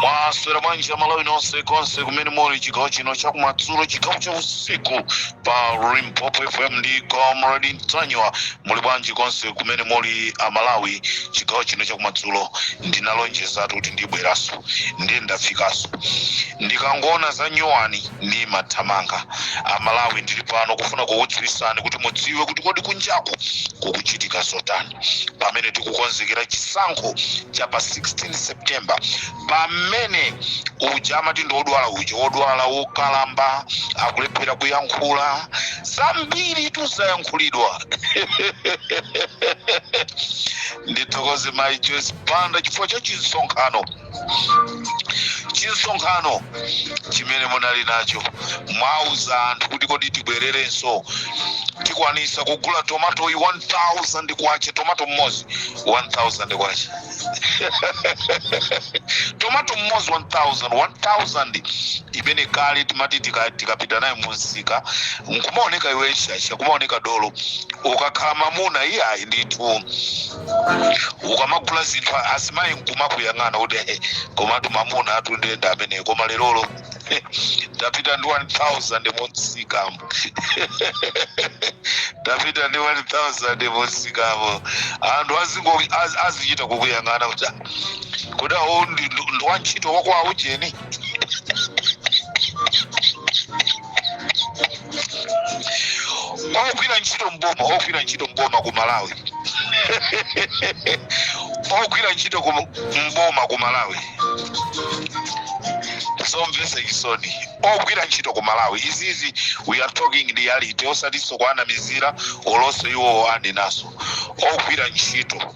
mwaswera bwanji amalawi nonse konse kumene muli chigawo chino chakumadzulo chigawo cha usiku pa limpopo fm ndi comrade ntanywa muli bwanji konse kumene muli amalawi chigawo chino chakumadzulo ndinalonjezatu kuti ndibweraso ndiye ndafikaso ndikangoona za nyowani ndi mathamanga amalawi ndili pano kufuna kukudziwisani kuti mudziwe kuti kodi kunjaku kukuchitika zotani pamene tikukonzekera chisankho cha pa 16 september pamene uja amati ndi odwala uja wodwala wokalamba akulephera kuyankhula zambiri tuzayankhulidwa ndithokoze mayi joyce banda chifukwa cha chinsonkhano chinsonkhano chimene munali nacho mwauza anthu kuti kodi tibwererenso tikwanisa kugula tomato yi 1000 kwacha tomato mmodzi 1000 kwacha tomato mmodzi 1000 1000 imene kale timati tika- tikapita nayo munsika nkumaoneka iwe shasha kumaoneka dolo ukakhala mamuna iyayi ndithu ukamagula zinthu azimayi nkumakuyang'ana kuti "Eh, komatu mamuna atundienda ameneyo koma lerolo tapita ndi 1000 mumsikamo tapita ndi 1000 mumsikamo anthu azingo- az- azichita kukuyang'ana kuti "Ah, kodi awo ndi ndi- ndi wantchito wakwaujeni ogwira ntchito mboma ogwira ntchito mboma ku malawi ogwira ntchito ku mboma ku malawi zomvesa chisoni ogwira ntchito ku malawi izizi we are talking reality osatiso kuwanamizira olonso iwowo andenaso ogwira ntchito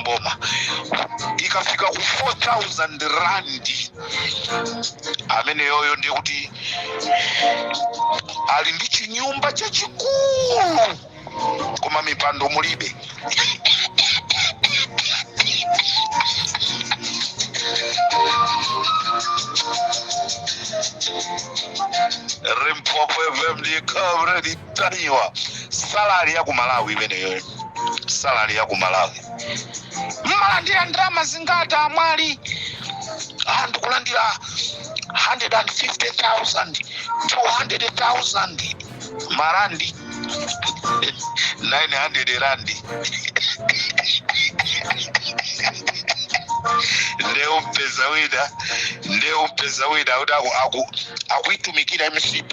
mboma ikafika ku 4000 randi ameneyoyo ndiye kuti ali ndi chinyumba chachikulu koma mipando mulibe Limpopo FM, ndi comrade. ntanywa salary ya ku malawi imeneyoyo salary ya ku malawi mmalandira ndalama zingati amwali anthu kulandira 150,000 200,000 marandi 900 randi nde umpeza wina nde umpeza wina kuti aku- aku- akuitumikira mcp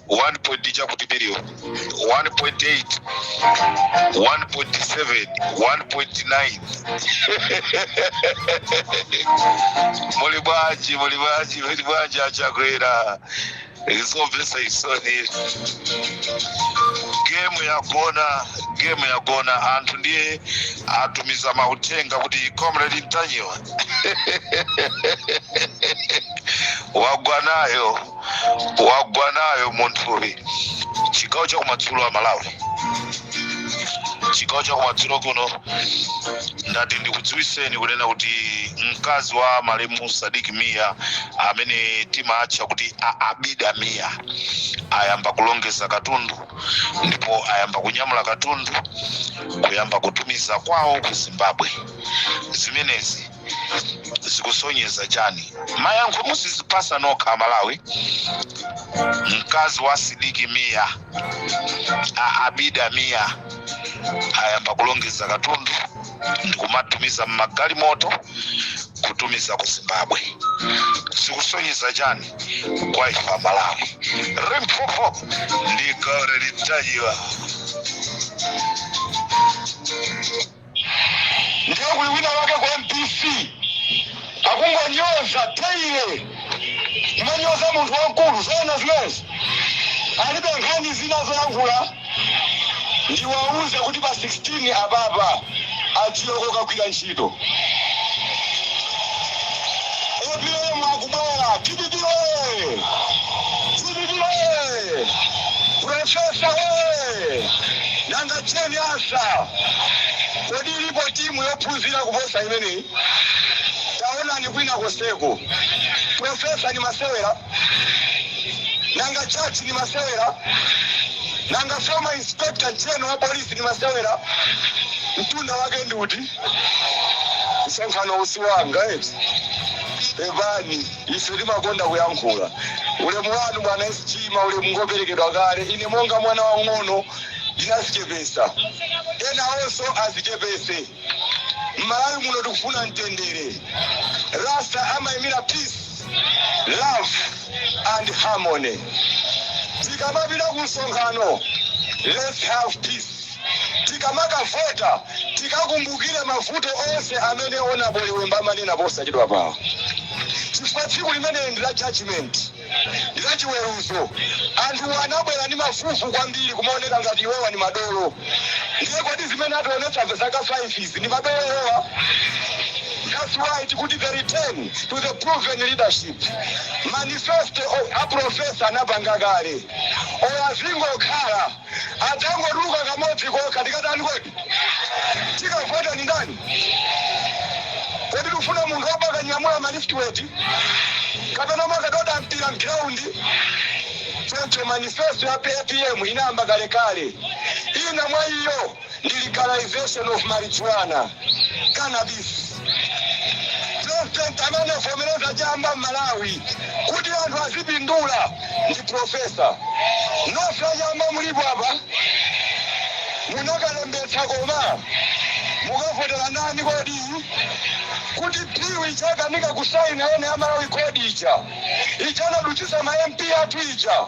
1 point ija kuti billion 1.8 1.7 1.9 muli bwanji muli bwanji muli bwanji achakwera zomvesa chisoni gemu yagona gemu yagona anthu ndiye atumiza mauthenga kuti comrade ntanyiwa wagwa nayo wagwa nayo munthuyu chigawo chakumadzulo amalawi chigawo chakumadzulo kuno ndati ndikudziwiseni kunena kuti mkazi wa malemu sadiki miya amene timatcha kuti a- abida miya ayamba kulongeza katundu ndipo ayamba kunyamula katundu kuyamba kutumiza kwawo ku zimbabwe zimenezi zikusonyeza chani mayankho muzizipasa nokha amalawi mkazi wa sidiki miya a abida miya ayamba kulongeza katundu ndikumatumiza mmagalimoto kutumiza ku zimbabwe zikusonyeza chani kwa ife amalawi rimpopo ndi comrade ntanyiwa ndiye kuli wina wake ku mbc akungonyoza teile kumanyoza munthu wamkulu zona zimenezi alibe nkhani zina zoyankhula ndiwauze kuti pa 16 apapa adziwe kokagwira ntchito apm akubwera dpp oye dpp oye profesa oye Nanga Jane Ansah, kodi ilipo timu yophunzira kuposa imeneyi? Taonani kwina konseko. Professor ndi masewera? Nanga Judge ndi masewera? Nanga Former Inspector General wa Police ndi masewera? Mtunda wake ndi uti? Msonkhanowu si wanga eti? Pepani. Ife timakonda kuyankhula. Ulemu wanu, Bwana SG, maulemu ngoperekedwa kale. Ine monga mwana wamng'ono ndinazichepesa. Enawonso azichepese. Mmalawi muno tikufuna mtendere. Rasta amaimira peace, love and harmony. Tikamapita ku msonkhano, let's have peace. Tikamakavota tikakumbukire mavuto onse amene Honorable Liwemba amanena posachedwapawa chifukwa tsiku limeneli ndi la judgement, ndi la chiweruzo. Anthuwa anabwera ndi mafufu kwambiri kumaoneka ngati iwowa ndi madolo ndiye kodi zimene ationetsa zaka 5 izi ndi madolo iwowa? That's why tikuti the return to the proven leadership. Manifesto a Professor anapanga kale or azingokhala. Adzangotuluka kamodzi kokha tikatani kodi? Tikavote ndi ndani? Kodi tikufuna munthu womakanyamula ma lift weight kapena omakadoda mpira m'ground? Choncho manifesto ya apm inayamba kalekale. Ina mwa iyo. ndi legalization of marijuana, cannabis. President amene anavomereza chamba m'Malawi kuti anthu azipindula ndi Professor. Nonse achamba mulipo apa munakalembetsa koma? Mukavotera ndani kodi? Kuti bill ija akanika kusaina ene a Malawi kodi, ija anadutsitsa ma MP athu ija.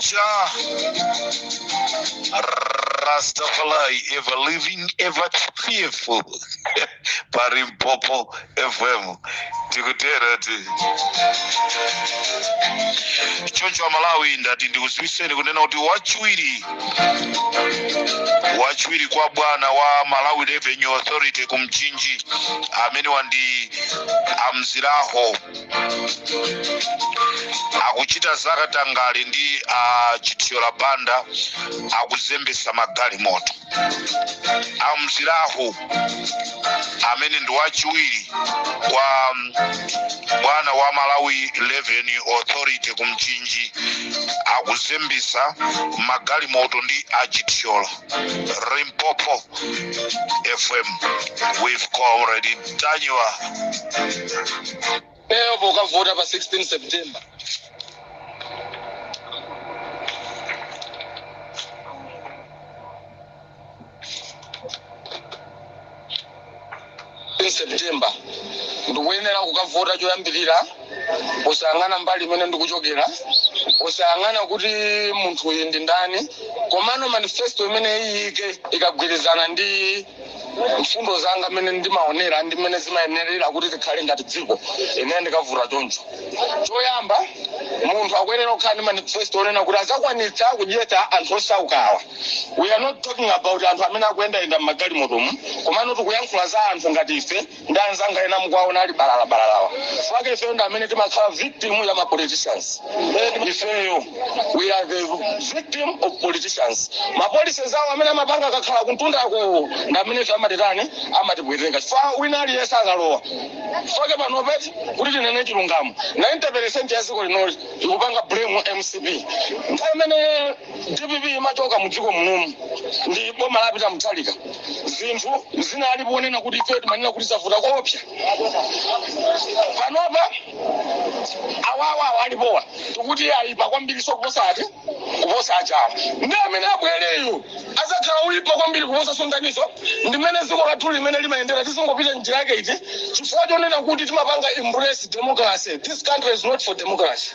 Jah. Rastafari, ever living, ever fearful. Parimpopo FM. Tikutera ti. Choncho Malawi ndati ndikuziwiseni kunena kuti wachiwiri wachiwiri kwa bwana wa Malawi Revenue Authority kumchinji amene wandi amziraho akuchita zakatangale ndi a chithyola banda akuzembesa magalimoto amzilahu amene ndi wachiwiri kwa bwana wa malawi revenue authority ku mchinji akuzembesa magalimoto ndi achithyola limpopo fm with comrade ntanyiwa leo pokavota pa 16 september september ndikuyenera kukavota choyambirira osayang'ana mbali imene ndikuchokera osayang'ana kuti munthu uyu ndi ndani komano manifesto imene iyike ikagwirizana ndi mfundo zanga mmene ndimaonera ndi mmene zimayenerera kuti tikhale ngati dziko ine ndikavota choncho choyamba munthu akuyenera kukhala ndi manifesto onena kuti azakwanitsa kudyetsa anthu osaukawa we are not talking about anthu amene akuyendayenda mmagalimotomu komano tikuyankhula za anthu ngati ife ndi anzanga ena mukuwaona ali balalabalalawa fake ifeyo ndi amene timakhala victim ya ma politicians ifeyo we are the victim of politicians ma policies awo amene amapanga akakhala kuntundako ndi amene ife amatitani amatipweteka chifukwa wina aliyense akalowa fake panopa eti kuti tinene chilungamo 90 percent ya dziko linoli ikupanga blame mcp nthawi imene Dpp imachoka mu dziko munomu ndi boma la Peter Mutharika zinthu zinali ponena kuti ifeyo timanena kuti zavuta koopsa. Panopa awawa awa alipowa tikuti ayipa kwambiriso kuposa ati kuposa ajawa ndi amene abwereyo azakhala oyipa kwambiri kuposa zonsezo ndi mmene dziko lathu limene limayendera tizingopita njira yake iti chifukwa chonena kuti timapanga embrace democracy this country is not for democracy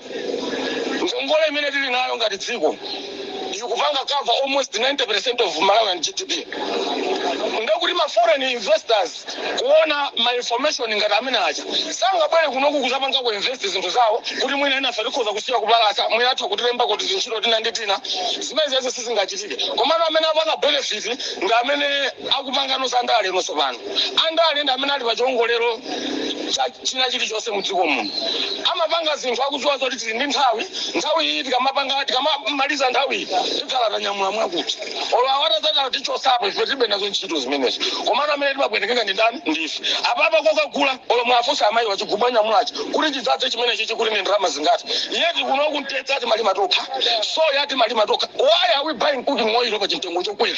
Ngongole imene tili nayo ngati dziko ikupanga cover almost 90% of Malawian GDP. Ndekuti ma foreign investors kuona ma information ngati amene aja sangabwere kunoku kuzapangako invest zinthu zawo kuti mwina enafe tikhoza kusiya kupalasa mwina atha kutilembako tizintchito tina ndi tina zimenezizi sizingachitike komano amene apanga benefit ndi amene akupanga nawo za ndale nonse apano. andale ndi amene ali pa chiwongolero cha china chilichonse mu dziko muno amapanga zinthu akudziwa zoti tili ndi nthawi nthawi iyi tikamapanga tikamamaliza nthawi iyi tikhala tanyamula mwakuti olo awa atazatala tichotsapo ife tilibe nazo ntchito zimenezo komano amene timapwetekeka ndi ndani ndife apapa kukagula olo muwafunse amayiwa chigubu anyamulachi kuti chidzadze chimenechi chikuti ndi ndalama zingati yeti kunoku mtedza timalima tokha soya timalima tokha why are we buying cooking oil pa chimtengo chokwera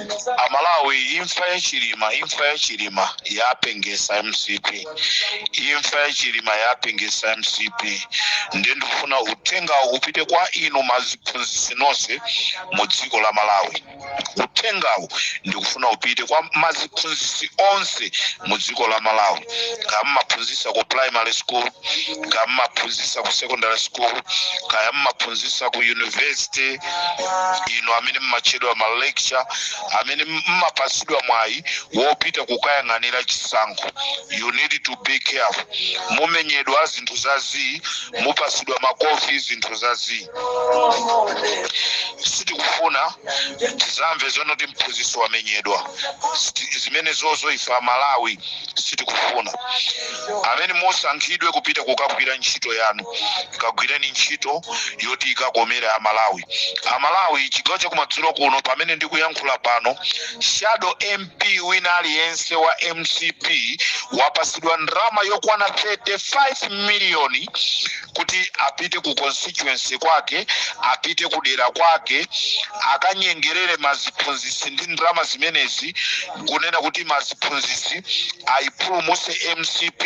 amalawi imfa ya chilima imfa ya chilima yapengesa mcp imfa ya chilima yapengesa mcp nde ndikufuna uthengawu upite kwa inu maziphunzitsi nonse mu dziko la malawi uthengawu ndikufuna upite kwa maziphunzitsi onse mu dziko la malawi kaya mmaphunzitsa ku primary school kaya mmaphunzitsa ku secondary school kaya mmaphunzitsa ku university inu amene mmatchedwa ma lecture amene mmapatsidwa mwayi wopita kukayang'anira chisankho you need to be careful mumenyedwa zinthu za zii mupatsidwa makofi zinthu za zii sitikufuna tizamve zonoti mphunzitsi wamenyedwa zimenezozo ife amalawi sitikufuna amene musankhidwe kupita kukagwira ntchito yanu kagwireni ntchito yoti ikakomere amalawi amalawi chigawo chakumadzulo kuno pamene ndikuyankhula pano shadow mp wina aliyense wa mcp wapasidwa ndalama yokwana 35 miliyoni kuti apite ku constituency kwake apite kudera kwake akanyengerere maziphunzitsi ndi ndalama zimenezi kunena kuti maziphunzitsi aipulumutse mcp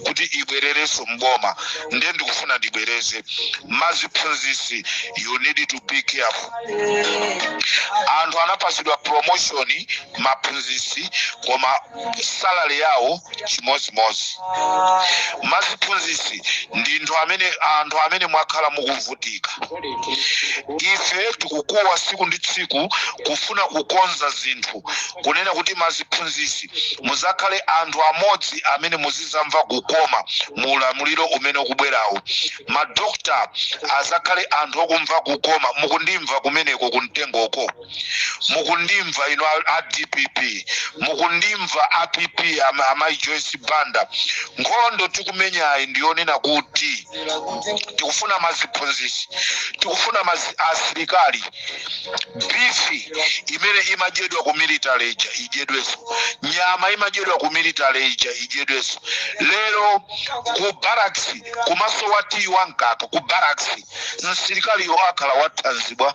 kuti ibwererenso mboma nde ndikufuna ndibwereze maziphunzitsi you need to be careful anthu anapatsidwa promotion maphunzitsi koma salary yawo chimodzimodzi maziphunzitsi ndinu amene anthu amene mwakhala mukuvutika ife tikukuwa tsiku ndi tsiku kufuna kukonza zinthu kunena kuti maziphunzisi muzakhale anthu amodzi amene muzizamva kukoma mu ulamuliro umene ukubwerawo madokta azakhale anthu okumva kukoma mukundimva kumeneko kumtengoko mukundimva inu a- a dpp mukundimva a pp am- amayi joyce banda nkhondo tikumenyayi ndiyonena kuti tikufuna maziphunzisi tikufuna mazi asilikali bifi imene imadyedwa ku military ija idyedwenso nyama imadyedwa ku military ija idyedwenso lero ku barracks kumasowa tiyi wa mkaka ku barracks msilikaliyo akhala wathanzi bwa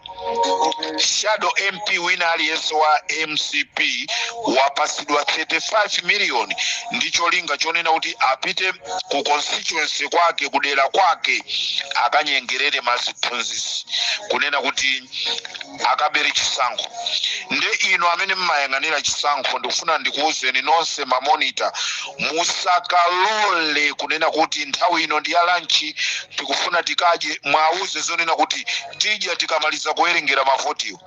shadow mp wina aliyense wa mcp wapatsidwa 35 miliyoni ndi cholinga chonena kuti apite ku constituency kwake kudera kwake akanyengerere maziphunzisi kunena kuti akabere chisankho nde inu amene mmayang'anira chisankho ndikufuna ndikuwuzeni nonse mamonita musakalole kunena kuti nthawi ino ndi ya lanchi tikufuna tikadye mwauze zonena kuti tidya tikamaliza kuwerengera mavotiwo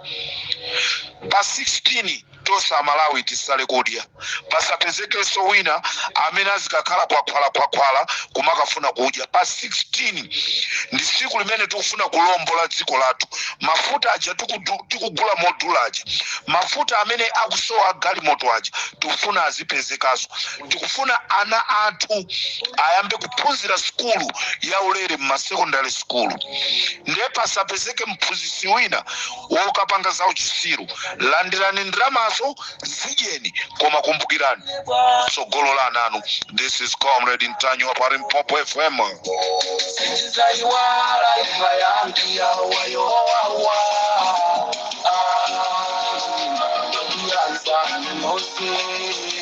pa 16 tonse amalawi tisale kudya pasapezekenso wina amene azikakhala kwakhwalakhwakhwala kumakafuna kudya pa 16 ndi tsiku limene tikufuna kulombola dziko lathu mafuta aja tikudu- tikugula modula aja mafuta amene akusowa agalimoto aja tikufuna azipezekanso Tikufuna ana athu ayambe kuphunzira sukulu yaulere m'masekondale sukulu nde pasapezeke mphunzitsi wina wokapanga zauchitsiru. Landirani ndalamazo, zidyeni koma kumbukirani tsogolo la ana anu. This is Comrade Mtanyiwa pa Limpopo FM. Sitizaiwala imfa yanu yowawa ah, yanzani mose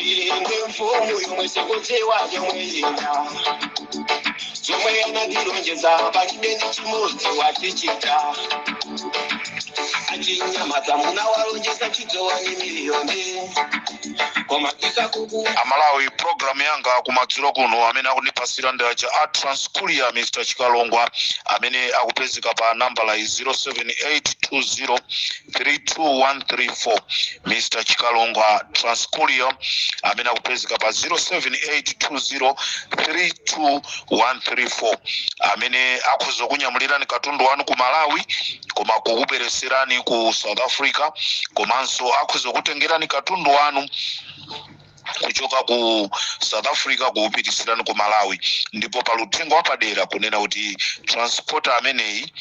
Inde mfumu yomwe sikudziwa yomwe ina chomwe anandilonjeza palibe ndi chimodzi watichita achinyamata munawalonjeza chidzowani miliyoni koma tisakuku amalawi programu yanga kumadzulo kuno amene akundipasira ndi aja a Transcourier Mr Chikalongwa amene akupezeka pa nambala 07820 32134 Mr. Chikalongwa Transcourier amene akupezeka pa 0782032134 amene akhoza kukunyamulirani katundu wanu ku Malawi koma kukupereserani ku South Africa komanso akhoza kukutengerani katundu wanu kuchoka ku south africa kuupitisirani ku malawi ndipo pali uthenga wapadera kunena kuti transporter ameneyi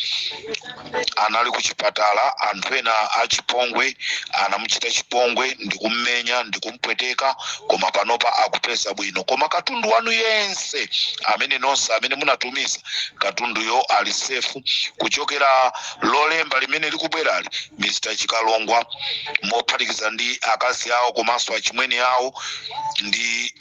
anali ku chipatala anthu ena achipongwe anamuchita chipongwe ndikummenya ndikumpweteka koma panopa akupeza bwino koma katundu wanu yense amene nonse amene munatumiza katunduyo ali safe kuchokera lolemba limene likubwerali Mr Chikalongwa mophatikiza ndi akazi awo komanso achimwene awo ndi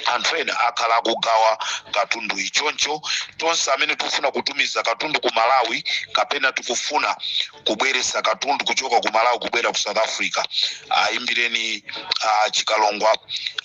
anthu ena akhala akugawa katundu Choncho tonse amene tikufuna kutumiza katundu ku Malawi kapena tikufuna kubweretsa katundu kuchoka ku Malawi kubwera ku South Africa ayimbireni uh, Chikalongwa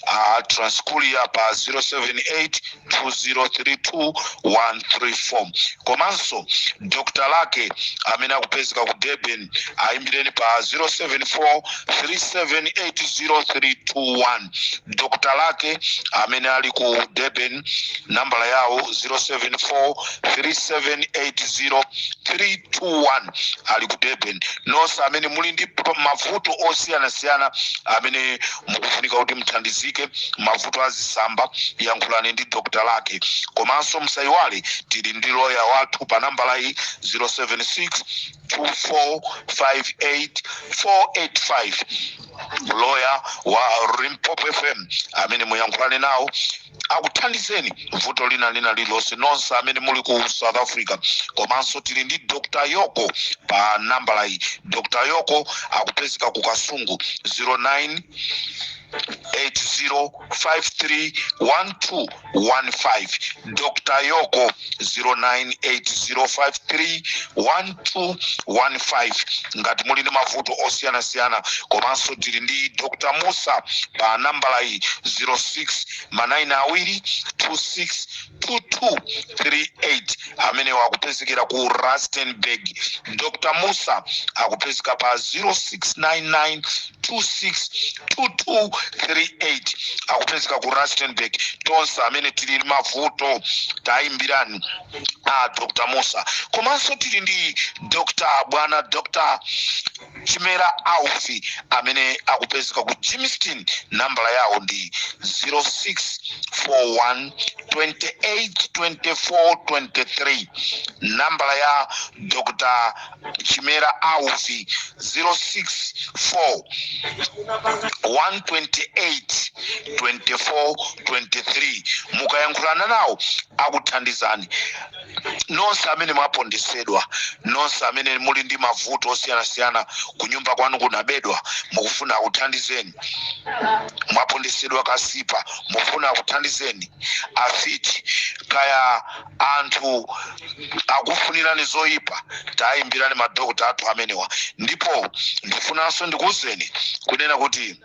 uh, Transcourier pa 078 2032134 komanso dr lake amene akupezeka ku durban ayimbireni pa 074378031 dr lake amene ali ku durban nambala yawo 074378031 ali ku durban nonse amene muli ndi mavuto osiyanasiyana amene mukufunika kuti muthandizike mavuto a zitsamba yankhulani ndi dr lake komanso musayiwale tili ndi loya wathu pa nambala iyi 076 2458485 loya wa Limpopo fm amene muyankhulane nawo akuthandizeni vuto lina lina lililonse nonse amene muli ku south africa komanso tili ndi dr yoko pa nambala iyi dr yoko akupezeka ku kasungu 09 80531215 dr yoko 0980531215 ngati muli ndi mavuto osiyanasiyana komanso tili ndi dr musa pa nambala iyi 06 ma nayini awiri 262238 amenewa akupezekera ku rustenburg dr musa akupezeka pa 0699 262238 akupezeka ku rustenburg nonse amene tili ndi mavuto tayimbirani a dr musa komanso tili ndi dr bwana dr chimera aufi amene akupezeka ku Germiston nambala yawo ndi 0641 282423 nambala ya dr chimera aufi 064 128 24 23 mukayankhulana nawo akuthandizani nonse amene mwapondesedwa nonse amene muli ndi mavuto osiyanasiyana kunyumba kwanu kunabedwa mukufuna akuthandizeni mwapondesedwa kasipa mufuna akuthandizeni afiti kaya anthu akufunirani zoyipa tayimbirani madokota athu amenewa ndipo ndifunanso ndikuwuzeni kunena kuti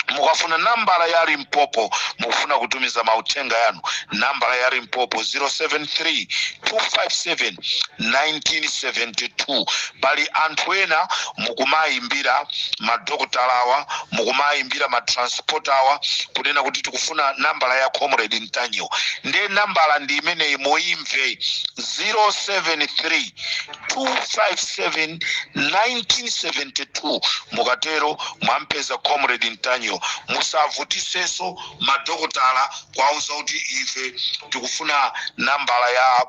mukafuna nambala ya limpopo mukufuna kutumiza mauthenga yanu nambala ya limpopo 073 257 1972 pali anthu ena mukumayimbira madokotala awa mukumayimbira matrans potawa kunena kuti tikufuna nambala ya comrade ntanyiwa ndiye nambala ndi imeneyi muimve 073 257 1972 mukatero mwampeza comrade ntanyiwa musavutiseso madokotala kuwauza kuti ife tikufuna nambala ya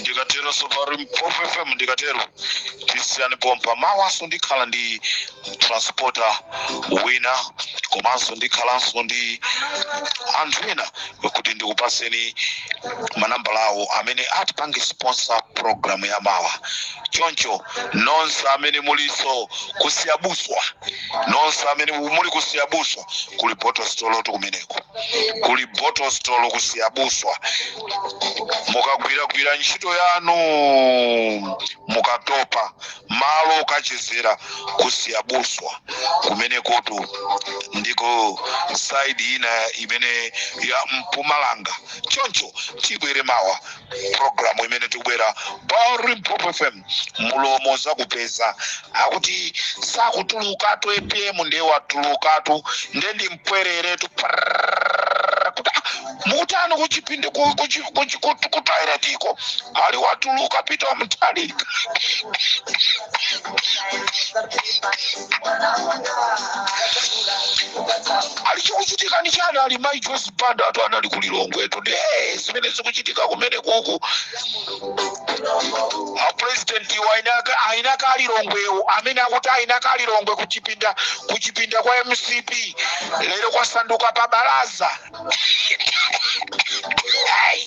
ndikatero pa Limpopo fm ndikatero tisiyani pompa mawaso ndikhala ndi transporter wina komanso ndikhalanso ndi anthu ena kuti ndikupaseni manambala awo amene atipange sponsor program ya mawa choncho nonse amene muliso ku Siyabuswa nonse amene muli ku Siyabuswa kuli botostolotu kumeneko kuli botostolo ku Siyabuswa mukagwiragwira ntchito yanu mukatopa malo okachezera ku Siyabuswa kumenekotu ndiko saidi ina imene ya mpumalanga choncho tibwere mawa programu imene tikubwera pa Limpopo FM mulomo zakupeza akuti sakutulukatu apm ndiye watulukatu ndiye ndi mpwereretu Prrrr, kuti ah, mukutani kuchipindi ku- kuchi- kuchi- kutu- kutoiletiko ali watuluka Peter Mutharika ali chikuchitika ndi chani ali mai Joyce banda atu anali ku lilongwetu ndiye zimene zikuchitika kumene uku apresidenti iwo ainaka ainaka alilongwewo amene akuti ainaka alilongwe kuchipinda kuchipinda kwa mcp lero kwasanduka pa balaza Hey!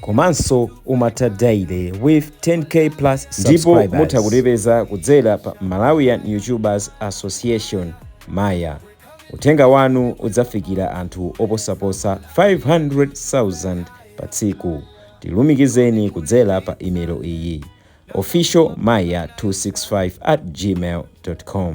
komanso umatha daily with 10k plus ndipo mutha kutipeza kudzera pa malawian youtubers association maya uthenga wanu udzafikira anthu oposaposa 500,000 pa tsiku tilumikizeni kudzera pa email iyi official maya 265 at gmail com